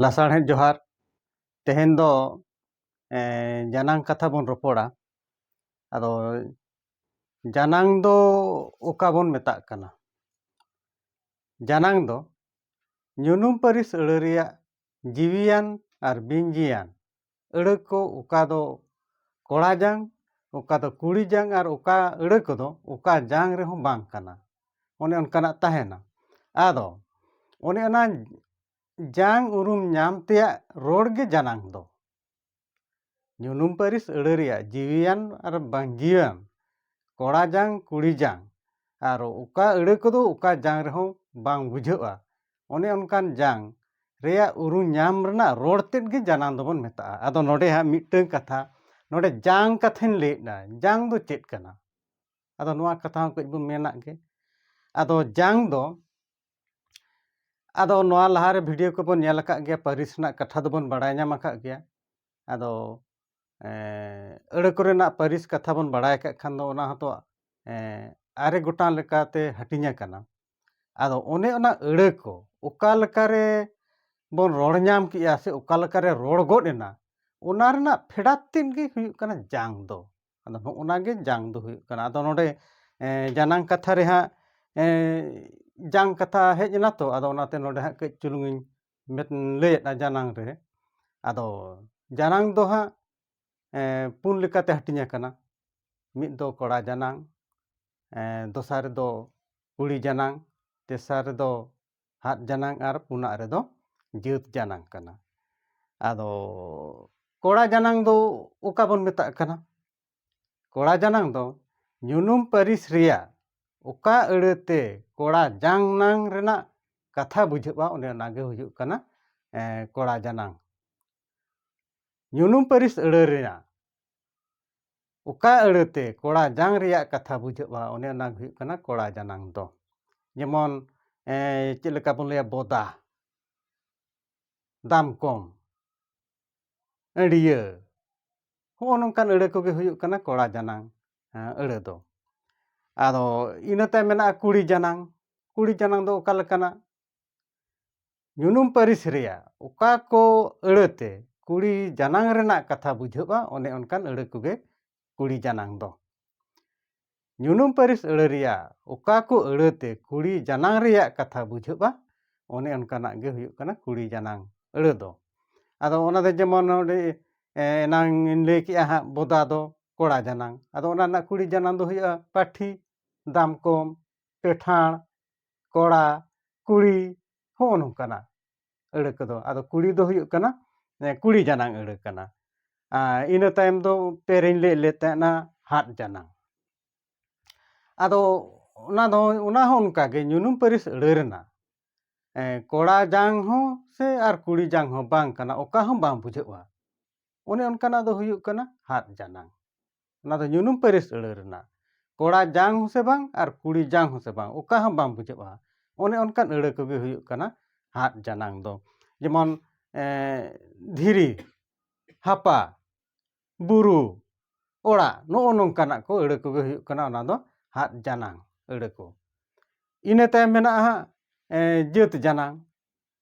ᱞᱟᱥᱟᱲᱦᱮᱫ ᱡᱚᱦᱟᱨ ᱛᱮᱦᱮᱧ ᱫᱚ ᱡᱟᱱᱟᱝ ᱠᱟᱛᱷᱟ ᱵᱚᱱ ᱨᱚᱯᱚᱲᱟ ᱟᱫᱚ ᱡᱟᱱᱟᱝ ᱫᱚ ᱚᱠᱟ ᱵᱚᱱ ᱢᱮᱛᱟᱜ ᱠᱟᱱᱟ ᱡᱟᱱᱟᱝ ᱫᱚ ᱧᱩᱱᱩᱢ ᱯᱟᱹᱨᱤᱥ ᱟᱹᱲᱟᱹ ᱨᱮᱭᱟᱜ ᱡᱤᱣᱤᱭᱟᱱ ᱟᱨ ᱵᱤᱧ ᱡᱤᱭᱟᱱ ᱟᱹᱲᱟᱹ ᱠᱚ ᱚᱠᱟ ᱫᱚ ᱠᱚᱲᱟ ᱡᱟᱝ ᱚᱠᱟ ᱫᱚ ᱠᱩᱲᱤ ᱡᱟᱝ ᱟᱨ ᱚᱠᱟ ᱟᱹᱲᱟᱹ ᱠᱚᱫᱚ ᱚᱠᱟ ᱡᱟᱝ ᱨᱮᱦᱚᱸ ᱵᱟᱝ ᱠᱟᱱᱟ ᱚᱱᱮ ᱚᱱᱠᱟᱱᱟᱜ ᱛᱟᱦᱮᱱᱟ ᱟᱫᱚ ᱚᱱᱮ ᱚᱱᱟ ᱡᱟᱝ ᱩᱨᱩᱢ ᱧᱟᱢ ᱛᱮᱭᱟᱜ ᱨᱚᱲ ᱜᱮ ᱡᱟᱱᱟᱝ ᱫᱚ ᱧᱩᱱᱩᱢ ᱯᱟᱹᱨᱤᱥ ᱟᱹᱲᱟᱹ ᱨᱮᱭᱟᱜ ᱡᱤᱣᱤᱭᱟᱱ ᱟᱨ ᱵᱟᱝ ᱡᱤᱣᱤᱭᱟᱱ ᱠᱚᱲᱟ ᱡᱟᱝ ᱠᱩᱲᱤ ᱡᱟᱝ ᱟᱨ ᱚᱠᱟ ᱟᱹᱲᱟᱹ ᱠᱚᱫᱚ ᱚᱠᱟ ᱡᱟᱝ ᱨᱮᱦᱚᱸ ᱵᱟᱝ ᱵᱩᱡᱷᱟᱹᱜᱼᱟ ᱚᱱᱮ ᱚᱱᱠᱟᱱ ᱡᱟᱝ ᱨᱮᱭᱟᱜ ᱩᱨᱩᱢ ᱧᱟᱢ ᱨᱮᱱᱟᱜ ᱨᱚᱲ ᱛᱮᱫ ᱜᱮ ᱡᱟᱱᱟᱝ ᱫᱚᱵᱚᱱ ᱢᱮᱛᱟᱜᱼᱟ ᱟᱫᱚ ᱱᱚᱰᱮ ᱦᱟᱸᱜ ᱢᱤᱫᱴᱟᱹᱝ ᱠᱟᱛᱷᱟ ᱱᱚᱰᱮ ᱡᱟᱝ ᱠᱟᱛᱷᱟᱧ ᱞᱟᱹᱭᱮᱫᱟ ᱡᱟᱝ ᱫᱚ ᱪᱮᱫ ᱠᱟᱱᱟ ᱟᱫᱚ ᱱᱚᱣᱟ ᱠᱟᱛᱷᱟ ᱦᱚᱸ ᱠᱟᱹᱡ ᱵᱚᱱ ᱢᱮᱱᱟᱜ ᱜᱮ ᱟᱫᱚ ᱡᱟᱝ ᱫᱚ ᱟᱫᱚ ᱱᱚᱣᱟ ᱞᱟᱦᱟᱨᱮ ᱵᱷᱤᱰᱤᱭᱳ ᱠᱚᱵᱚᱱ ᱧᱮᱞ ᱟᱠᱟᱫ ᱜᱮᱭᱟ ᱯᱟᱹᱨᱤᱥ ᱨᱮᱱᱟᱜ ᱠᱟᱛᱷᱟ ᱫᱚᱵᱚᱱ ᱵᱟᱲᱟᱭ ᱧᱟᱢ ᱟᱠᱟᱫ ᱜᱮᱭᱟ ᱟᱫᱚ ᱟᱹᱲᱟᱹ ᱠᱚᱨᱮᱱᱟᱜ ᱯᱟᱹᱨᱤᱥ ᱠᱟᱛᱷᱟ ᱵᱚᱱ ᱵᱟᱲᱟᱭ ᱠᱟᱜ ᱠᱷᱟᱱ ᱫᱚ ᱚᱱᱟ ᱦᱚᱸᱛᱚ ᱟᱨᱮ ᱜᱚᱴᱟᱝ ᱞᱮᱠᱟᱛᱮ ᱦᱟᱹᱴᱤᱧ ᱟᱠᱟᱱᱟ ᱟᱫᱚ ᱚᱱᱮ ᱚᱱᱟ ᱟᱹᱲᱟᱹ ᱠᱚ ᱚᱠᱟ ᱞᱮᱠᱟᱨᱮ ᱵᱚᱱ ᱨᱚᱲ ᱧᱟᱢ ᱠᱮᱜᱼᱟ ᱥᱮ ᱚᱠᱟ ᱞᱮᱠᱟᱨᱮ ᱨᱚᱲ ᱜᱚᱫ ᱮᱱᱟ ᱚᱱᱟ ᱨᱮᱱᱟᱜ ᱯᱷᱮᱰᱟᱛ ᱛᱮᱫ ᱜᱮ ᱦᱩᱭᱩᱜ ᱠᱟᱱᱟ ᱡᱟᱝ ᱫᱚ ᱟᱫᱚ ᱱᱚᱜᱼᱱᱟ ᱜᱮ ᱡᱟᱝ ᱫᱚ ᱦᱩᱭᱩᱜ ᱠᱟᱱᱟ ᱟᱫᱚ ᱱᱚᱰᱮ ᱡᱟᱱᱟᱝ ᱠᱟᱛᱷᱟ ᱨᱮ ᱦᱟᱸᱜ ᱡᱟᱝ ᱠᱟᱛᱷᱟ ᱦᱮᱡ ᱮᱱᱟ ᱛᱚ ᱟᱫᱚ ᱚᱱᱟᱛᱮ ᱱᱚᱰᱮ ᱦᱟᱸᱜ ᱠᱟᱹᱡ ᱪᱩᱞᱩᱝ ᱤᱧ ᱞᱟᱹᱭᱮᱫᱼᱟ ᱡᱟᱱᱟᱝ ᱨᱮ ᱟᱫᱚ ᱡᱟᱱᱟᱝ ᱫᱚ ᱦᱟᱸᱜ ᱯᱩᱱ ᱞᱮᱠᱟᱛᱮ ᱦᱟᱹᱴᱤᱧ ᱟᱠᱟᱱᱟ ᱢᱤᱫ ᱫᱚ ᱠᱚᱲᱟ ᱡᱟᱱᱟᱝ ᱫᱚᱥᱟᱨ ᱨᱮᱫᱚ ᱠᱩᱲᱤ ᱡᱟᱱᱟᱝ ᱛᱮᱥᱟᱨ ᱨᱮᱫᱚ ᱦᱟᱜ ᱡᱟᱱᱟᱝ ᱟᱨ ᱯᱩᱱᱟᱜ ᱨᱮᱫᱚ ᱡᱟᱹᱛ ᱡᱟᱱᱟᱝ ᱠᱟᱱᱟ ᱟᱫᱚ ᱠᱚᱲᱟ ᱡᱟᱱᱟᱝ ᱫᱚ ᱚᱠᱟ ᱵᱚᱱ ᱢᱮᱛᱟᱜ ᱠᱟᱱᱟ ᱠᱚᱲᱟ ᱡᱟᱱᱟᱝ ᱫᱚ ᱧᱩᱱᱩᱢ ᱯᱟᱹᱨᱤᱥ ᱨᱮᱭᱟᱜ ᱚᱠᱟ ᱟᱹᱲᱟᱹ ᱛᱮ ᱠᱚᱲᱟ ᱡᱟᱝ ᱱᱟᱝ ᱨᱮᱱᱟᱜ ᱠᱟᱛᱷᱟ ᱵᱩᱡᱷᱟᱹᱜᱼᱟ ᱚᱱᱮ ᱚᱱᱟ ᱜᱮ ᱦᱩᱭᱩᱜ ᱠᱟᱱᱟ ᱠᱚᱲᱟ ᱡᱟᱱᱟᱝ ᱧᱩᱱᱩᱢ ᱯᱟᱹᱨᱤᱥ ᱟᱹᱲᱟᱹ ᱨᱮᱱᱟᱜ ᱚᱠᱟ ᱟᱹᱲᱟᱹᱛᱮ ᱠᱚᱲᱟ ᱡᱟᱝ ᱨᱮᱭᱟᱜ ᱠᱟᱛᱷᱟ ᱵᱩᱡᱷᱟᱹᱜᱼᱟ ᱚᱱᱮ ᱚᱱᱟ ᱜᱮ ᱦᱩᱭᱩᱜ ᱠᱟᱱᱟ ᱠᱚᱲᱟ ᱡᱟᱱᱟᱝ ᱫᱚ ᱡᱮᱢᱚᱱ ᱪᱮᱫ ᱞᱮᱠᱟ ᱵᱚᱱ ᱞᱟᱹᱭᱟ ᱵᱚᱫᱟ ᱫᱟᱢ ᱠᱚᱢ ᱟᱹᱰᱤᱭᱟᱹ ᱦᱚᱸᱜᱼᱚ ᱱᱚᱝᱠᱟᱱ ᱟᱹᱲᱟᱹ ᱠᱚᱜᱮ ᱦᱩᱭᱩᱜ ᱠᱟᱱᱟ ᱠᱚᱲᱟ ᱡᱟᱱᱟᱝ ᱟᱹᱲᱟᱹ ᱫᱚ ᱟᱫᱚ ᱤᱱᱟᱹ ᱛᱟᱭᱚᱢ ᱢᱮᱱᱟᱜᱼᱟ ᱠᱩᱲᱤ ᱡᱟᱱᱟᱝ ᱠᱩᱲᱤ ᱡᱟᱱᱟᱝ ᱫᱚ ᱚᱠᱟ ᱞᱮᱠᱟᱱᱟᱜ ᱧᱩᱱᱩᱢ ᱯᱟᱹᱨᱤᱥ ᱨᱮᱭᱟᱜ ᱚᱠᱟ ᱠᱚ ᱟᱹᱲᱟᱹ ᱛᱮ ᱠᱩᱲᱤ ᱡᱟᱱᱟᱝ ᱨᱮᱱᱟᱜ ᱠᱟᱛᱷᱟ ᱵᱩᱡᱷᱟᱹᱜᱼᱟ ᱚᱱᱮ ᱚᱱᱠᱟᱱ ᱟᱹᱲᱟᱹ ᱠᱚᱜᱮ ᱠᱩᱲᱤ ᱡᱟᱱᱟᱝ ᱫᱚ ᱧᱩᱱᱩᱢ ᱯᱟᱹᱨᱤᱥ ᱟᱹᱲᱟᱹ ᱨᱮᱭᱟᱜ ᱚᱠᱟ ᱠᱚ ᱟᱹᱲᱟᱹ ᱛᱮ ᱠᱩᱲᱤ ᱡᱟᱱᱟᱝ ᱨᱮᱭᱟᱜ ᱠᱟᱛᱷᱟ ᱵᱩᱡᱷᱟᱹᱜᱼᱟ ᱚᱱᱮ ᱚᱱᱠᱟᱱᱟᱜ ᱜᱮ ᱦᱩᱭᱩᱜ ᱠᱟᱱᱟ ᱠᱩᱲᱤ ᱡᱟᱱᱟᱝ ᱟᱹᱲᱟᱹ ᱫᱚ ᱟᱫᱚ ᱚᱱᱟ ᱫᱚ ᱡᱮᱢᱚᱱ ᱱᱚᱰᱮ ᱮᱱᱟᱝ ᱤᱧ ᱞᱟᱹᱭ ᱠᱮᱜᱼᱟ ᱦᱟᱸᱜ ᱵᱚᱫᱟ ᱫᱚ ᱠᱚᱲᱟ ᱡᱟᱱᱟᱝ ᱟᱫᱚ ᱚᱱᱟ ᱨᱮᱱᱟᱜ ᱠᱩᱲᱤ ᱡᱟᱱᱟᱝ ᱫᱚ ᱦᱩᱭᱩᱜᱼᱟ ᱯᱟᱹᱴᱷᱤ ᱫᱟᱢᱠᱚᱢ ᱯᱮᱴᱷᱟᱲ ᱠᱚᱲᱟ ᱠᱩᱲᱤ ᱦᱚᱜᱼᱚᱭ ᱱᱚᱝᱠᱟᱱᱟ ᱟᱹᱲᱟᱹ ᱠᱚᱫᱚ ᱟᱫᱚ ᱠᱩᱲᱤ ᱫᱚ ᱦᱩᱭᱩᱜ ᱠᱟᱱᱟ ᱠᱩᱲᱤ ᱡᱟᱱᱟᱝ ᱟᱹᱲᱟᱹ ᱠᱟᱱᱟ ᱟᱨ ᱤᱱᱟᱹ ᱛᱟᱭᱚᱢ ᱫᱚ ᱯᱮᱨᱮᱧ ᱞᱟᱹᱭᱮᱫ ᱞᱮ ᱛᱟᱦᱮᱱᱟ ᱦᱟᱫ ᱡᱟᱱᱟᱝ ᱟᱫᱚ ᱚᱱᱟ ᱫᱚ ᱚᱱᱟ ᱦᱚᱸ ᱚᱱᱠᱟ ᱜᱮ ᱧᱩᱱᱩᱢ ᱯᱟᱹᱨᱤᱥ ᱟᱹᱲᱟᱹ ᱨᱮᱱᱟᱜ ᱠᱚᱲᱟ ᱡᱟᱝ ᱦᱚᱸ ᱥᱮ ᱟᱨ ᱠᱩᱲᱤ ᱡᱟᱝ ᱦᱚᱸ ᱵᱟᱝ ᱠᱟᱱᱟ ᱚᱠᱟ ᱦᱚᱸ ᱵᱟᱝ ᱵᱩᱡᱷᱟᱹᱜᱼᱟ ᱚᱱᱮ ᱚᱱᱠᱟᱱᱟᱜ ᱫᱚ ᱦᱩᱭᱩᱜ ᱠᱟᱱᱟ ᱦᱟᱫ ᱡᱟᱱᱟᱝ ᱚᱱᱟ ᱫᱚ ᱧᱩᱱᱩᱢ ᱯᱟᱹᱨᱤᱥ ᱟᱹᱲᱟᱹ ᱨᱮᱱᱟᱜ ᱠᱚᱲᱟ ᱡᱟᱝ ᱦᱚᱸ ᱥᱮ ᱵᱟᱝ ᱟᱨ ᱠᱩᱲᱤ ᱡᱟᱝ ᱦᱚᱸ ᱥᱮ ᱵᱟᱝ ᱚᱠᱟ ᱦᱚᱸ ᱵᱟᱝ ᱵᱩᱡᱷᱟᱹᱜᱼᱟ ᱚᱱᱮ ᱚᱱᱠᱟᱱ ᱟᱹᱲᱟᱹ ᱠᱚᱜᱮ ᱦᱩᱭᱩᱜ ᱠᱟᱱᱟ ᱦᱟᱜ ᱡᱟᱱᱟᱝ ᱫᱚ ᱡᱮᱢᱚᱱ ᱫᱷᱤᱨᱤ ᱦᱟᱯᱟ ᱵᱩᱨᱩ ᱚᱲᱟᱜ ᱱᱚᱜᱼᱚ ᱱᱚᱝᱠᱟᱱᱟᱜ ᱠᱚ ᱟᱹᱲᱟᱹ ᱠᱚᱜᱮ ᱦᱩᱭᱩᱜ ᱠᱟᱱᱟ ᱚᱱᱟ ᱫᱚ ᱦᱟᱜ ᱡᱟᱱᱟᱝ ᱟᱹᱲᱟᱹ ᱠᱚ ᱤᱱᱟᱹ ᱛᱟᱭᱚᱢ ᱢᱮᱱᱟᱜᱼᱟ ᱦᱟᱸᱜ ᱡᱟᱹᱛ ᱡᱟᱱᱟᱝ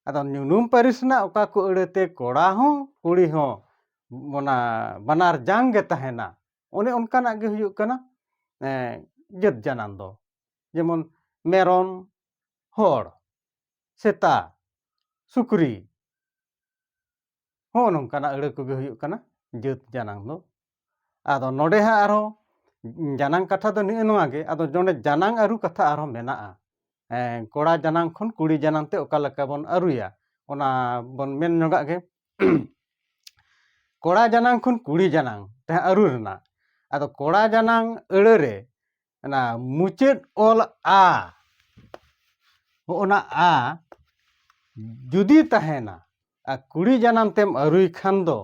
ᱟᱫᱚ ᱧᱩᱱᱩᱢ ᱯᱟᱹᱨᱤᱥ ᱨᱮᱱᱟᱜ ᱚᱠᱟ ᱠᱚ ᱟᱹᱲᱟᱹᱛᱮ ᱠᱚᱲᱟ ᱦᱚᱸ ᱠᱩᱲᱤ ᱦᱚᱸ ᱚᱱᱟ ᱵᱟᱱᱟᱨ ᱡᱟᱝ ᱜᱮ ᱛᱟᱦᱮᱱᱟ ᱚᱱᱮ ᱚᱱᱠᱟᱱᱟᱜ ᱜᱮ ᱦᱩᱭᱩᱜ ᱠᱟᱱᱟ ᱡᱟᱹᱛ ᱡᱟᱱᱟᱢ ᱫᱚ ᱡᱮᱢᱚᱱ ᱢᱮᱨᱚᱢ ᱦᱚᱲ ᱥᱮᱛᱟ ᱥᱩᱠᱨᱤ ᱦᱚᱸ ᱱᱚᱝᱠᱟᱱᱟᱜ ᱟᱹᱲᱟᱹ ᱠᱚᱜᱮ ᱦᱩᱭᱩᱜ ᱠᱟᱱᱟ ᱡᱟᱹᱛ ᱡᱟᱱᱟᱝ ᱫᱚ ᱟᱫᱚ ᱱᱚᱰᱮ ᱦᱟᱸᱜ ᱟᱨᱦᱚᱸ ᱡᱟᱱᱟᱝ ᱠᱟᱛᱷᱟ ᱫᱚ ᱱᱤᱜᱼᱮ ᱱᱚᱣᱟ ᱜᱮ ᱟᱫᱚ ᱱᱚᱰᱮ ᱡᱟᱱᱟᱝ ᱟᱹᱨᱩ ᱠᱟᱛᱷᱟ ᱟᱨᱦᱚᱸ ᱢᱮᱱᱟᱜᱼᱟ ᱠᱚᱲᱟ ᱡᱟᱱᱟᱝ ᱠᱷᱚᱱ ᱠᱩᱲᱤ ᱡᱟᱱᱟᱝ ᱛᱮ ᱚᱠᱟ ᱞᱮᱠᱟ ᱵᱚᱱ ᱟᱹᱨᱩᱭᱟ ᱚᱱᱟ ᱵᱚᱱ ᱢᱮᱱ ᱧᱚᱜᱟᱜ ᱜᱮ ᱠᱚᱲᱟ ᱡᱟᱱᱟᱝ ᱠᱷᱚᱱ ᱠᱩᱲᱤ ᱡᱟᱱᱟᱝ ᱛᱮ ᱟᱹᱨᱩ ᱨᱮᱱᱟᱜ ᱟᱫᱚ ᱠᱚᱲᱟ ᱡᱟᱱᱟᱝ ᱟᱹᱲᱟᱹ ᱨᱮ ᱚᱱᱟ ᱢᱩᱪᱟᱹᱫ ᱚᱞ ᱟ ᱦᱚᱸᱜᱼᱚᱱᱟ ᱟ ᱡᱩᱫᱤ ᱛᱟᱦᱮᱱᱟ ᱟᱨ ᱠᱩᱲᱤ ᱡᱟᱱᱟᱢ ᱛᱮᱢ ᱟᱹᱨᱩᱭ ᱠᱷᱟᱱ ᱫᱚ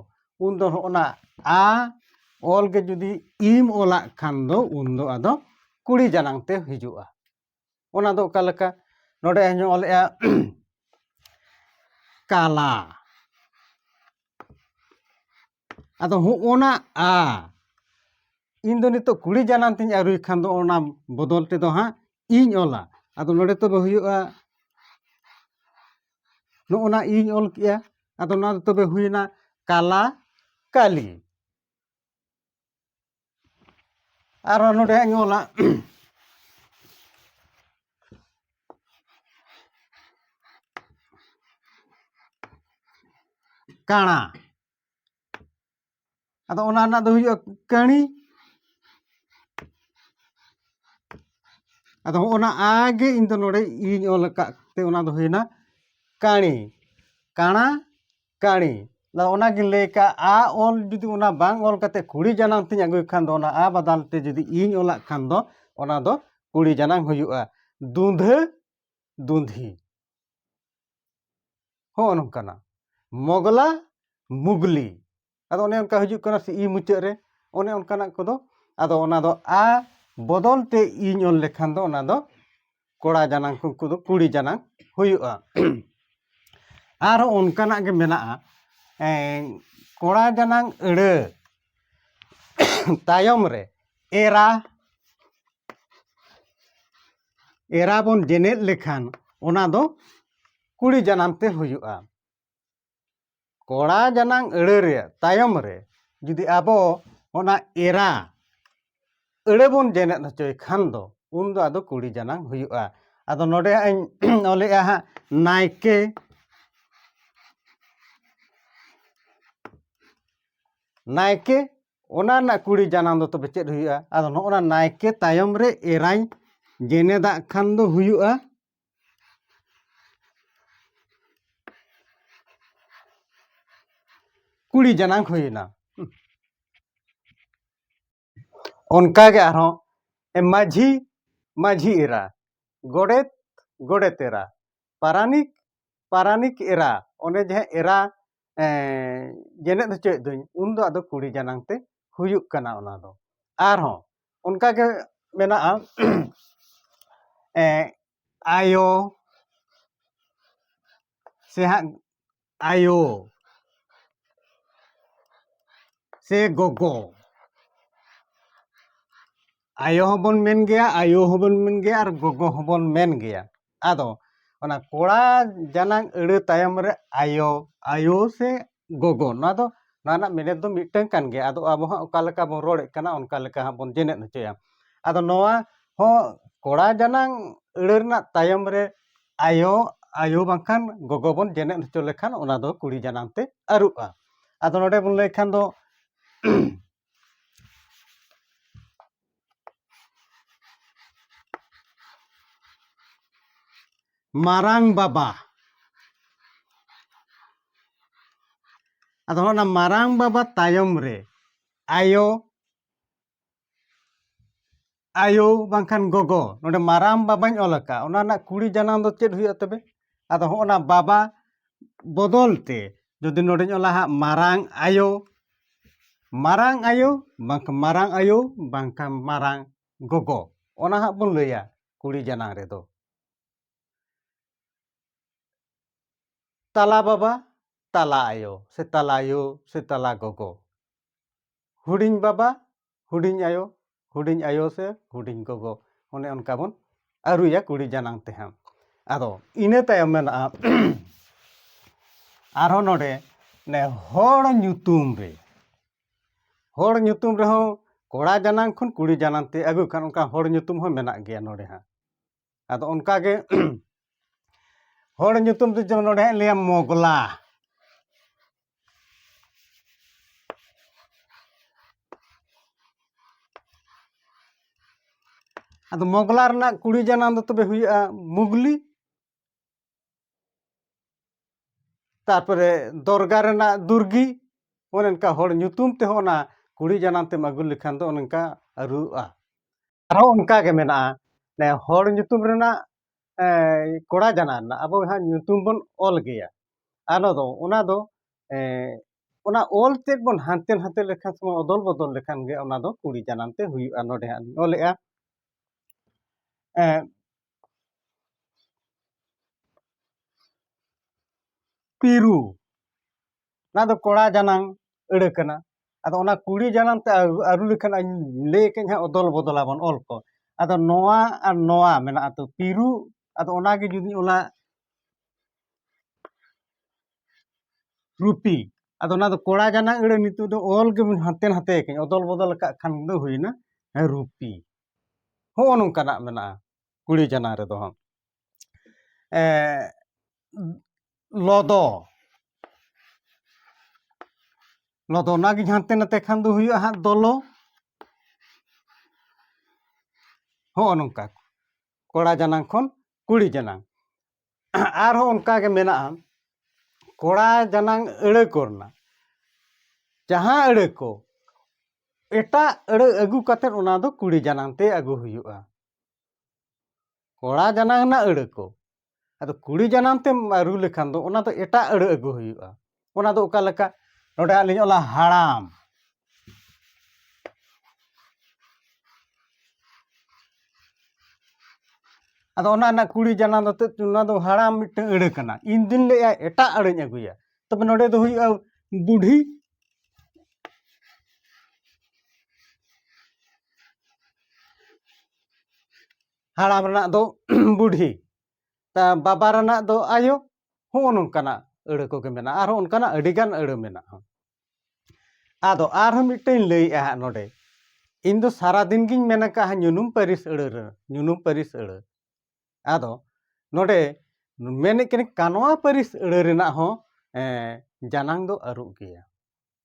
ᱩᱱ ᱫᱚ ᱦᱚᱸᱜᱼᱚᱱᱟ ᱟ ᱚᱞ ᱜᱮ ᱡᱩᱫᱤ ᱤᱢ ᱚᱞᱟᱜ ᱠᱷᱟᱱ ᱫᱚ ᱩᱱ ᱫᱚ ᱟᱫᱚ ᱠᱩᱲᱤ ᱡᱟᱱᱟᱝ ᱛᱮ ᱦᱤᱡᱩᱜᱼᱟ ᱚᱱᱟ ᱫᱚ ᱚᱠᱟ ᱞᱮᱠᱟ ᱱᱚᱰᱮ ᱤᱧ ᱚᱞᱮᱜᱼᱟ ᱠᱟᱞᱟ ᱟᱫᱚ ᱦᱚᱜᱼᱚᱭ ᱱᱟ ᱟ ᱤᱧ ᱫᱚ ᱱᱤᱛᱚᱜ ᱠᱩᱲᱤ ᱡᱟᱱᱟᱢ ᱛᱤᱧ ᱟᱹᱨᱩᱭ ᱠᱷᱟᱱ ᱫᱚ ᱚᱱᱟ ᱵᱚᱫᱚᱞ ᱛᱮᱫᱚ ᱦᱟᱸᱜ ᱤᱧ ᱚᱞᱟ ᱟᱫᱚ ᱱᱚᱰᱮ ᱛᱚᱵᱮ ᱦᱩᱭᱩᱜᱼᱟ ᱱᱚᱜᱼᱚᱭ ᱱᱟ ᱤᱧ ᱚᱞ ᱠᱮᱜᱼᱟ ᱟᱫᱚ ᱱᱚᱣᱟ ᱫᱚ ᱛᱚᱵᱮ ᱦᱩᱭᱱᱟ ᱠᱟᱞᱟ ᱠᱟᱞᱤ ᱟᱨᱚ ᱱᱚᱰᱮ ᱦᱟᱸᱜ ᱤᱧ ᱚᱞᱟ ᱠᱟᱬᱟ ᱟᱫᱚ ᱚᱱᱟ ᱨᱮᱱᱟᱜ ᱫᱚ ᱦᱩᱭᱩᱜᱼᱟ ᱠᱟᱹᱬᱤ ᱟᱫᱚ ᱚᱱᱟ ᱟᱜᱮ ᱤᱧ ᱫᱚ ᱱᱚᱰᱮ ᱤᱧ ᱚᱞ ᱟᱠᱟᱫ ᱛᱮ ᱚᱱᱟ ᱫᱚ ᱦᱩᱭᱱᱟ ᱠᱟᱹᱬᱤ ᱠᱟᱬᱟ ᱠᱟᱹᱬᱤ ᱟᱫᱚ ᱚᱱᱟᱜᱮ ᱞᱟᱹᱭ ᱠᱟᱜ ᱟᱜ ᱟᱜ ᱚᱞ ᱡᱩᱫᱤ ᱚᱱᱟ ᱵᱟᱝ ᱚᱞ ᱠᱟᱛᱮᱫ ᱠᱩᱲᱤ ᱡᱟᱱᱟᱝ ᱛᱤᱧ ᱟᱹᱜᱩᱭ ᱠᱷᱟᱱ ᱫᱚ ᱚᱱᱟ ᱟᱜ ᱵᱟᱫᱟᱞ ᱛᱮ ᱡᱩᱫᱤ ᱤᱧ ᱚᱞᱟᱜ ᱠᱷᱟᱱ ᱫᱚ ᱚᱱᱟ ᱫᱚ ᱠᱩᱲᱤ ᱡᱟᱱᱟᱝ ᱦᱩᱭᱩᱜᱼᱟ ᱫᱩᱸᱫᱷᱟᱹ ᱫᱩᱸᱫᱷᱤ ᱦᱚᱸᱜᱼᱚ ᱱᱚᱝᱠᱟᱱᱟᱜ ᱢᱚᱜᱽᱞᱟ ᱢᱩᱜᱽᱞᱤ ᱟᱫᱚ ᱚᱱᱮ ᱚᱱᱠᱟ ᱦᱤᱡᱩᱜ ᱠᱟᱱᱟ ᱥᱮ ᱤ ᱢᱩᱪᱟᱹᱫ ᱨᱮ ᱚᱱᱮ ᱚᱱᱠᱟᱱᱟᱜ ᱠᱚᱫᱚ ᱟᱫᱚ ᱚᱱᱟ ᱫᱚ ᱟ ᱵᱚᱫᱚᱞ ᱛᱮ ᱤᱧ ᱚᱞ ᱞᱮᱠᱷᱟᱱ ᱫᱚ ᱚᱱᱟ ᱫᱚ ᱠᱚᱲᱟ ᱡᱟᱱᱟᱝ ᱩᱱᱠᱩ ᱫᱚ ᱠᱩᱲᱤ ᱡᱟᱱᱟᱝ ᱦᱩᱭᱩᱜᱼᱟ ᱟᱨᱚ ᱚᱱᱠᱟᱱᱟᱜ ᱜᱮ ᱢᱮᱱᱟᱜᱼᱟ ᱠᱚᱲᱟ ᱡᱟᱱᱟᱝ ᱟᱹᱲᱟᱹ ᱛᱟᱭᱚᱢ ᱨᱮ ᱮᱨᱟ ᱮᱨᱟ ᱵᱚᱱ ᱡᱮᱱᱮᱫ ᱞᱮᱠᱷᱟᱱ ᱚᱱᱟ ᱫᱚ ᱠᱩᱲᱤ ᱡᱟᱱᱟᱢ ᱛᱮ ᱦᱩᱭᱩᱜᱼᱟ ᱠᱚᱲᱟ ᱡᱟᱱᱟᱝ ᱟᱹᱲᱟᱹ ᱨᱮᱭᱟᱜ ᱛᱟᱭᱚᱢ ᱨᱮ ᱡᱩᱫᱤ ᱟᱵᱚ ᱚᱱᱟ ᱮᱨᱟ ᱟᱹᱲᱟᱹ ᱵᱚᱱ ᱡᱮᱱᱮᱫ ᱦᱚᱪᱚᱭ ᱠᱷᱟᱱ ᱫᱚ ᱩᱱ ᱫᱚ ᱟᱫᱚ ᱠᱩᱲᱤ ᱡᱟᱱᱟᱝ ᱦᱩᱭᱩᱜᱼᱟ ᱟᱫᱚ ᱱᱚᱰᱮ ᱦᱟᱸᱜ ᱤᱧ ᱚᱞᱮᱜᱼᱟ ᱦᱟᱸᱜ ᱱᱟᱭᱠᱮ ᱱᱟᱭᱠᱮ ᱚᱱᱟ ᱨᱮᱱᱟᱜ ᱠᱩᱲᱤ ᱡᱟᱱᱟᱝ ᱫᱚ ᱛᱚᱵᱮ ᱪᱮᱫ ᱦᱩᱭᱩᱜᱼᱟ ᱟᱫᱚ ᱱᱚᱜᱼᱚ ᱱᱟ ᱱᱟᱭᱠᱮ ᱛᱟᱭᱚᱢ ᱨᱮ ᱮᱨᱟᱧ ᱡᱮᱱᱮᱫᱟᱜ ᱠᱷᱟᱱ ᱫᱚ ᱦᱩᱭᱩᱜᱼᱟ ᱠᱩᱲᱤ ᱡᱟᱱᱟᱝ ᱦᱩᱭᱮᱱᱟ ᱚᱱᱠᱟᱜᱮ ᱟᱨᱦᱚᱸ ᱢᱟᱹᱡᱷᱤ ᱢᱟᱹᱡᱷᱤ ᱮᱨᱟ ᱜᱚᱰᱮᱛ ᱜᱚᱰᱮᱛ ᱮᱨᱟ ᱯᱟᱨᱟᱱᱤᱠ ᱯᱟᱨᱟᱱᱤᱠ ᱮᱨᱟ ᱚᱱᱮ ᱡᱟᱦᱟᱸ ᱮᱨᱟ ᱡᱮᱱᱮᱫ ᱦᱚᱪᱚᱭᱮᱫ ᱫᱩᱧ ᱩᱱ ᱫᱚ ᱟᱫᱚ ᱠᱩᱲᱤ ᱡᱟᱱᱟᱝ ᱛᱮ ᱦᱩᱭᱩᱜ ᱠᱟᱱᱟ ᱚᱱᱟ ᱫᱚ ᱟᱨ ᱦᱚᱸ ᱚᱱᱠᱟ ᱜᱮ ᱢᱮᱱᱟᱜᱼᱟ ᱟᱭᱳ ᱥᱮ ᱦᱟᱸᱜ ᱟᱭᱳ ᱥᱮ ᱜᱚᱜᱚ ᱟᱭᱳ ᱦᱚᱸᱵᱚᱱ ᱢᱮᱱ ᱜᱮᱭᱟ ᱟᱭᱳ ᱦᱚᱸᱵᱚᱱ ᱢᱮᱱ ᱜᱮᱭᱟ ᱟᱨ ᱜᱚᱜᱚ ᱦᱚᱸᱵᱚᱱ ᱢᱮᱱ ᱜᱮᱭᱟ ᱟᱫᱚ ᱚᱱᱟ ᱠᱚᱲᱟ ᱡᱟᱱᱟᱝ ᱟᱹᱲᱟᱹ ᱛᱟᱭᱚᱢ ᱨᱮ ᱟᱭᱳ ᱟᱭᱳ ᱥᱮ ᱜᱚᱜᱚ ᱱᱚᱣᱟ ᱫᱚ ᱱᱚᱣᱟ ᱨᱮᱱᱟᱜ ᱢᱮᱱᱮᱛ ᱫᱚ ᱢᱤᱫᱴᱟᱹᱝ ᱠᱟᱱ ᱜᱮᱭᱟ ᱟᱫᱚ ᱟᱵᱚ ᱦᱚᱸ ᱚᱠᱟ ᱞᱮᱠᱟ ᱵᱚᱱ ᱨᱚᱲᱮᱫ ᱠᱟᱱᱟ ᱚᱱᱠᱟ ᱞᱮᱠᱟ ᱦᱟᱸᱜ ᱵᱚᱱ ᱡᱮᱱᱮᱫ ᱦᱚᱪᱚᱭᱟ ᱟᱫᱚ ᱱᱚᱣᱟ ᱦᱚᱸ ᱠᱚᱲᱟ ᱡᱟᱱᱟᱝ ᱟᱹᱲᱟᱹ ᱨᱮᱱᱟᱜ ᱛᱟᱭᱚᱢ ᱨᱮ ᱟᱭᱳ ᱟᱭᱳ ᱵᱟᱝᱠᱷᱟᱱ ᱜᱚᱜᱚ ᱵᱚᱱ ᱡᱮᱱᱮᱫ ᱦᱚᱪᱚ ᱞᱮᱠᱷᱟᱱ ᱚᱱᱟ ᱫᱚ ᱠᱩᱲᱤ ᱡᱟᱱᱟᱝ ᱛᱮ ᱟᱹᱨᱩᱜᱼᱟ ᱟᱫᱚ ᱱᱚᱰᱮ ᱵᱚᱱ ᱞᱟᱹᱭ ᱠᱷᱟᱱ ᱫᱚ ᱢᱟᱨᱟᱝ ᱵᱟᱵᱟ ᱟᱫᱚ ᱚᱱᱟ ᱢᱟᱨᱟᱝ ᱵᱟᱵᱟ ᱛᱟᱭᱚᱢ ᱨᱮ ᱟᱭᱳ ᱟᱭᱳ ᱵᱟᱝᱠᱷᱟᱱ ᱜᱚᱜᱚ ᱱᱚᱰᱮ ᱢᱟᱨᱟᱝ ᱵᱟᱵᱟᱧ ᱚᱞ ᱟᱠᱟᱫ ᱚᱱᱟ ᱨᱮᱱᱟᱜ ᱠᱩᱲᱤ ᱡᱟᱱᱟᱢ ᱫᱚ ᱪᱮᱫ ᱦᱩᱭᱩᱜᱼᱟ ᱛᱚᱵᱮ ᱟᱫᱚ ᱦᱚᱸᱜᱼᱚ ᱱᱟ ᱵᱟᱵᱟ ᱵᱚᱫᱚᱞ ᱛᱮ ᱡᱩᱫᱤ ᱱᱚᱰᱮᱧ ᱚᱞᱟ ᱦᱟᱸᱜ ᱢᱟᱨᱟᱝ ᱟᱭᱳ ᱢᱟᱨᱟᱝ ᱟᱭᱳ ᱵᱟᱝᱠᱷᱟᱱ ᱢᱟᱨᱟᱝ ᱟᱭᱳ ᱵᱟᱝᱠᱷᱟᱱ ᱢᱟᱨᱟᱝ ᱜᱚᱜᱚ ᱚᱱᱟ ᱦᱟᱸᱜ ᱵᱚᱱ ᱞᱟᱹᱭᱟ ᱠᱩᱲᱤ ᱡᱟᱱᱟᱝ ᱨᱮᱫᱚ ᱛᱟᱞᱟ ᱵᱟᱵᱟ ᱛᱟᱞᱟ ᱟᱭᱳ ᱥᱮ ᱛᱟᱞᱟ ᱟᱭᱳ ᱥᱮ ᱛᱟᱞᱟ ᱜᱚᱜᱚ ᱦᱩᱰᱤᱧ ᱵᱟᱵᱟ ᱦᱩᱰᱤᱧ ᱟᱭᱳ ᱦᱩᱰᱤᱧ ᱟᱭᱳ ᱥᱮ ᱦᱩᱰᱤᱧ ᱜᱚᱜᱚ ᱚᱱᱮ ᱚᱱᱠᱟ ᱵᱚᱱ ᱟᱹᱨᱩᱭᱟ ᱠᱩᱲᱤ ᱡᱟᱱᱟᱝ ᱛᱮ ᱦᱟᱸᱜ ᱟᱫᱚ ᱤᱱᱟᱹ ᱛᱟᱭᱚᱢ ᱢᱮᱱᱟᱜᱼᱟ ᱟᱨᱦᱚᱸ ᱱᱚᱰᱮ ᱱᱮ ᱦᱚᱲ ᱧᱩᱛᱩᱢ ᱨᱮ ᱦᱚᱲ ᱧᱩᱛᱩᱢ ᱨᱮᱦᱚᱸ ᱠᱚᱲᱟ ᱡᱟᱱᱟᱝ ᱠᱷᱚᱱ ᱠᱩᱲᱤ ᱡᱟᱱᱟᱝ ᱛᱮ ᱟᱹᱜᱩ ᱠᱷᱟᱱ ᱚᱱᱠᱟ ᱦᱚᱲ ᱧᱩᱛᱩᱢ ᱦᱚᱸ ᱢᱮᱱᱟᱜ ᱜᱮᱭᱟ ᱱᱚᱰᱮ ᱦᱟᱸᱜ ᱟᱫᱚ ᱚᱱᱠᱟ ᱜᱮ ᱦᱚᱲ ᱧᱩᱛᱩᱢ ᱛᱮ ᱡᱮᱢᱚᱱ ᱱᱚᱰᱮ ᱦᱟᱸᱜ ᱞᱟᱹᱭᱟ ᱢᱚᱜᱽᱞᱟ ᱟᱫᱚ ᱢᱚᱜᱽᱞᱟ ᱨᱮᱱᱟᱜ ᱠᱩᱲᱤ ᱡᱟᱱᱟᱢ ᱫᱚ ᱛᱚᱵᱮ ᱦᱩᱭᱩᱜᱼᱟ ᱢᱩᱜᱽᱞᱤ ᱛᱟᱨᱯᱚᱨᱮ ᱫᱚᱨᱜᱟ ᱨᱮᱱᱟᱜ ᱫᱩᱨᱜᱤ ᱚᱱᱮ ᱚᱱᱠᱟ ᱦᱚᱲ ᱧᱩᱛᱩᱢ ᱛᱮᱦᱚᱸ ᱚᱱᱟ ᱠᱩᱲᱤ ᱡᱟᱱᱟᱢ ᱛᱮᱢ ᱟᱹᱜᱩ ᱞᱮᱠᱷᱟᱱ ᱫᱚ ᱚᱱᱮ ᱚᱱᱠᱟ ᱟᱹᱨᱩᱜᱼᱟ ᱟᱨᱦᱚᱸ ᱚᱱᱠᱟ ᱜᱮ ᱢᱮᱱᱟᱜᱼᱟ ᱱᱮ ᱦᱚᱲ ᱧᱩᱛᱩᱢ ᱨᱮᱱᱟᱜ ᱠᱚᱲᱟ ᱡᱟᱱᱟ ᱨᱮᱱᱟᱜ ᱟᱵᱚ ᱦᱟᱸᱜ ᱧᱩᱛᱩᱢ ᱵᱚᱱ ᱚᱞ ᱜᱮᱭᱟ ᱟᱞᱚ ᱫᱚ ᱚᱱᱟ ᱫᱚ ᱚᱱᱟ ᱚᱞ ᱛᱮᱫ ᱵᱚᱱ ᱦᱟᱱᱛᱮ ᱱᱟᱛᱮ ᱞᱮᱠᱷᱟᱱ ᱥᱮ ᱚᱫᱚᱞ ᱵᱚᱫᱚᱞ ᱞᱮᱠᱷᱟᱱ ᱜᱮ ᱚᱱᱟ ᱫᱚ ᱠᱩᱲᱤ ᱡᱟᱱᱟᱢ ᱛᱮ ᱦᱩᱭᱩᱜᱼᱟ ᱱᱚᱰᱮ ᱦᱟᱸᱜ ᱞᱤᱧ ᱚᱞᱮᱜᱼᱟ ᱯᱤᱨᱩ ᱚᱱᱟ ᱫᱚ ᱠᱚᱲᱟ ᱡᱟᱱᱟᱝ ᱟᱹᱲᱟᱹ ᱠᱟᱱᱟ ᱟᱫᱚ ᱚᱱᱟ ᱠᱩᱲᱤ ᱡᱟᱱᱟᱝ ᱛᱮ ᱟᱹᱨᱩ ᱞᱮᱠᱷᱟᱱ ᱟᱹᱧ ᱞᱟᱹᱭ ᱠᱟᱹᱧ ᱦᱟᱸᱜ ᱚᱫᱚᱞ ᱵᱚᱫᱚᱞ ᱟᱵᱚᱱ ᱚᱞ ᱠᱚ ᱟᱫᱚ ᱱᱚᱣᱟ ᱟᱨ ᱱᱚᱣᱟ ᱢᱮᱱᱟᱜᱼᱟ ᱛᱚ ᱯᱤᱨᱩ ᱟᱫᱚ ᱚᱱᱟᱜᱮ ᱡᱩᱫᱤ ᱚᱱᱟ ᱨᱩᱯᱤ ᱟᱫᱚ ᱚᱱᱟ ᱫᱚ ᱠᱚᱲᱟ ᱡᱟᱱᱟᱝ ᱟᱹᱲᱟᱹ ᱱᱤᱛᱚᱜ ᱫᱚ ᱚᱞ ᱜᱮ ᱦᱟᱱᱛᱮ ᱱᱟᱛᱮ ᱠᱟᱹᱧ ᱚᱫᱚᱞ ᱵᱚᱫᱚᱞ ᱟᱠᱟᱫ ᱠᱷᱟᱱ ᱫᱚ ᱦᱩᱭᱱᱟ ᱨᱩᱯᱤ ᱦᱚᱸᱜᱼᱚ ᱱᱚᱝᱠᱟᱱᱟᱜ ᱢᱮᱱᱟᱜᱼᱟ ᱠᱩᱲᱤ ᱡᱟᱱᱟ ᱨᱮᱫᱚ ᱦᱟᱸᱜ ᱞᱚᱫᱚ ᱞᱚᱫᱚ ᱚᱱᱟᱜᱮ ᱦᱟᱱᱛᱮ ᱱᱟᱛᱮ ᱠᱷᱟᱱ ᱫᱚ ᱦᱩᱭᱩᱜᱼᱟ ᱦᱟᱸᱜ ᱫᱚᱞᱚ ᱦᱚᱸᱜᱼᱚ ᱱᱚᱝᱠᱟ ᱠᱚᱲᱟ ᱡᱟᱱᱟᱝ ᱠᱷᱚᱱ ᱠᱩᱲᱤ ᱡᱟᱱᱟᱝ ᱟᱨᱦᱚᱸ ᱚᱱᱠᱟ ᱜᱮ ᱢᱮᱱᱟᱜᱼᱟ ᱠᱚᱲᱟ ᱡᱟᱱᱟᱝ ᱟᱹᱲᱟᱹ ᱠᱚ ᱨᱮᱱᱟᱜ ᱡᱟᱦᱟᱸ ᱟᱹᱲᱟᱹ ᱠᱚ ᱮᱴᱟᱜ ᱟᱹᱲᱟᱹ ᱟᱹᱜᱩ ᱠᱟᱛᱮ ᱚᱱᱟ ᱫᱚ ᱠᱩᱲᱤ ᱡᱟᱱᱟᱝ ᱛᱮ ᱟᱹᱜᱩ ᱦᱩᱭᱩᱜᱼᱟ ᱠᱚᱲᱟ ᱡᱟᱱᱟᱝ ᱨᱮᱱᱟᱜ ᱟᱹᱲᱟᱹ ᱠᱚ ᱟᱫᱚ ᱠᱩᱲᱤ ᱡᱟᱱᱟᱝ ᱛᱮᱢ ᱨᱩ ᱞᱮᱠᱷᱟᱱ ᱫᱚ ᱚᱱᱟ ᱫᱚ ᱮᱴᱟᱜ ᱟᱹᱲᱟᱹ ᱟᱹᱜᱩ ᱦᱩᱭᱩᱜᱼᱟ ᱚᱱᱟ ᱫᱚ ᱚᱠᱟ ᱞᱮᱠᱟ ᱱᱚᱰᱮ ᱦᱟᱸᱜ ᱞᱤᱧ ᱚᱞᱟ ᱦᱟᱲᱟᱢ ᱟᱫᱚ ᱚᱱᱟ ᱨᱮᱱᱟᱜ ᱠᱩᱲᱤ ᱡᱟᱱᱟᱢ ᱫᱚ ᱚᱱᱟ ᱫᱚ ᱦᱟᱲᱟᱢ ᱢᱤᱫᱴᱟᱝ ᱟᱹᱲᱟᱹ ᱠᱟᱱᱟ ᱤᱧ ᱫᱩᱧ ᱞᱟᱹᱭᱟ ᱮᱴᱟᱜ ᱟᱹᱲᱟᱹᱧ ᱟᱹᱜᱩᱭᱟ ᱛᱚᱵᱮ ᱱᱚᱰᱮ ᱫᱚ ᱦᱩᱭᱩᱜᱼᱟ ᱵᱩᱰᱷᱤ ᱦᱟᱲᱟᱢ ᱨᱮᱱᱟᱜ ᱫᱚ ᱵᱩᱰᱷᱤ ᱵᱟᱵᱟ ᱨᱮᱱᱟᱜ ᱫᱚ ᱟᱭᱳ ᱦᱚᱸᱜᱼᱚ ᱱᱚᱝᱠᱟᱱᱟᱜ ᱟᱹᱲᱟᱹ ᱠᱚᱜᱮ ᱢᱮᱱᱟᱜᱼᱟ ᱟᱨᱦᱚᱸ ᱚᱱᱠᱟᱱᱟᱜ ᱟᱹᱰᱤᱜᱟᱱ ᱟᱹᱲᱟᱹ ᱢᱮᱱᱟᱜᱼᱟ ᱟᱫᱚ ᱟᱨᱦᱚᱸ ᱢᱤᱫᱴᱮᱱ ᱤᱧ ᱞᱟᱹᱭᱮᱫᱼᱟ ᱦᱟᱸᱜ ᱱᱚᱰᱮ ᱤᱧ ᱫᱚ ᱥᱟᱨᱟᱫᱤᱱ ᱜᱤᱧ ᱢᱮᱱ ᱟᱠᱟᱫᱼᱟ ᱧᱩᱱᱩᱢ ᱯᱟᱹᱨᱤᱥ ᱟᱹᱲᱟᱹ ᱨᱮ ᱧᱩᱱᱩᱢ ᱯᱟᱹᱨᱤᱥ ᱟᱹᱲᱟᱹ ᱟᱫᱚ ᱱᱚᱰᱮ ᱢᱮᱱᱮᱫ ᱠᱟᱹᱱᱟᱹᱧ ᱠᱟᱱᱣᱟ ᱯᱟᱹᱨᱤᱥ ᱟᱹᱲᱟᱹ ᱨᱮᱱᱟᱜ ᱦᱚᱸ ᱡᱟᱱᱟᱝ ᱫᱚ ᱟᱹᱨᱩᱜ ᱜᱮᱭᱟ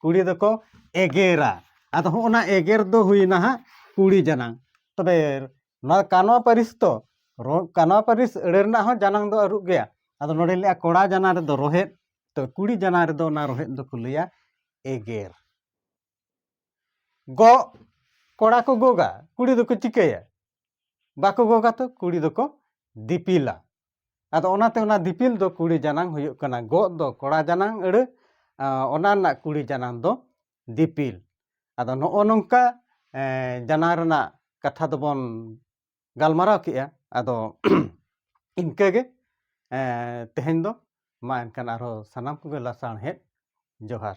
ᱠᱩᱲᱤ ᱫᱚᱠᱚ ᱮᱜᱮᱨᱟ ᱟᱫᱚ ᱦᱚᱸᱜᱼᱚ ᱱᱟ ᱮᱜᱮᱨ ᱫᱚ ᱦᱩᱭᱱᱟ ᱦᱟᱸᱜ ᱠᱩᱲᱤ ᱡᱟᱱᱟᱝ ᱛᱚᱵᱮ ᱱᱚᱣᱟ ᱠᱟᱱᱣᱟ ᱯᱟᱹᱨᱤᱥ ᱫᱚ ᱠᱟᱱᱣᱟ ᱯᱟᱹᱨᱤᱥ ᱟᱹᱲᱟᱹ ᱨᱮᱱᱟᱜ ᱦᱚᱸ ᱡᱟᱱᱟᱝ ᱫᱚ ᱟᱹᱨᱩᱵ ᱜᱮᱭᱟ ᱟᱫᱚ ᱱᱚᱰᱮ ᱞᱟᱹᱭᱟ ᱠᱚᱲᱟ ᱡᱟᱱᱟᱝ ᱨᱮᱫᱚ ᱨᱚᱦᱮᱫ ᱛᱚ ᱠᱩᱲᱤ ᱡᱟᱱᱟᱝ ᱨᱮᱫᱚ ᱚᱱᱟ ᱨᱚᱦᱮᱫ ᱫᱚᱠᱚ ᱞᱟᱹᱭᱟ ᱮᱜᱮᱨ ᱜᱚᱜ ᱠᱚᱲᱟ ᱠᱚ ᱜᱚᱜᱟ ᱠᱩᱲᱤ ᱫᱚᱠᱚ ᱪᱤᱠᱟᱹᱭᱟ ᱵᱟᱠᱚ ᱜᱚᱜᱟ ᱛᱚ ᱠᱩᱲᱤ ᱫᱚᱠᱚ ᱫᱤᱯᱤᱞᱟ ᱟᱫᱚ ᱚᱱᱟᱛᱮ ᱚᱱᱟ ᱫᱤᱯᱤᱞ ᱫᱚ ᱠᱩᱲᱤ ᱡᱟᱱᱟᱝ ᱦᱩᱭᱩᱜ ᱠᱟᱱᱟ ᱜᱚᱜ ᱫᱚ ᱠᱚᱲᱟ ᱡᱟᱱᱟᱝ ᱟᱹᱲᱟᱹ ᱚᱱᱟ ᱨᱮᱱᱟᱜ ᱠᱩᱲᱤ ᱡᱟᱱᱟᱝ ᱫᱚ ᱫᱤᱯᱤᱞ ᱟᱫᱚ ᱱᱚᱜᱼᱚ ᱱᱚᱝᱠᱟ ᱡᱟᱱᱟᱝ ᱨᱮᱱᱟᱜ ᱠᱟᱛᱷᱟ ᱫᱚᱵᱚᱱ ᱜᱟᱞᱢᱟᱨᱟᱣ ᱠᱮᱜᱼᱟ ᱟᱫᱚ ᱤᱱᱠᱟᱹᱜᱮ ᱛᱮᱦᱮᱧ ᱫᱚ ᱢᱟ ᱮᱱᱠᱷᱟᱱ ᱟᱨᱦᱚᱸ ᱥᱟᱱᱟᱢ ᱠᱚᱜᱮ ᱞᱟᱥᱟᱬᱦᱮᱫ ᱡᱚᱦᱟᱨ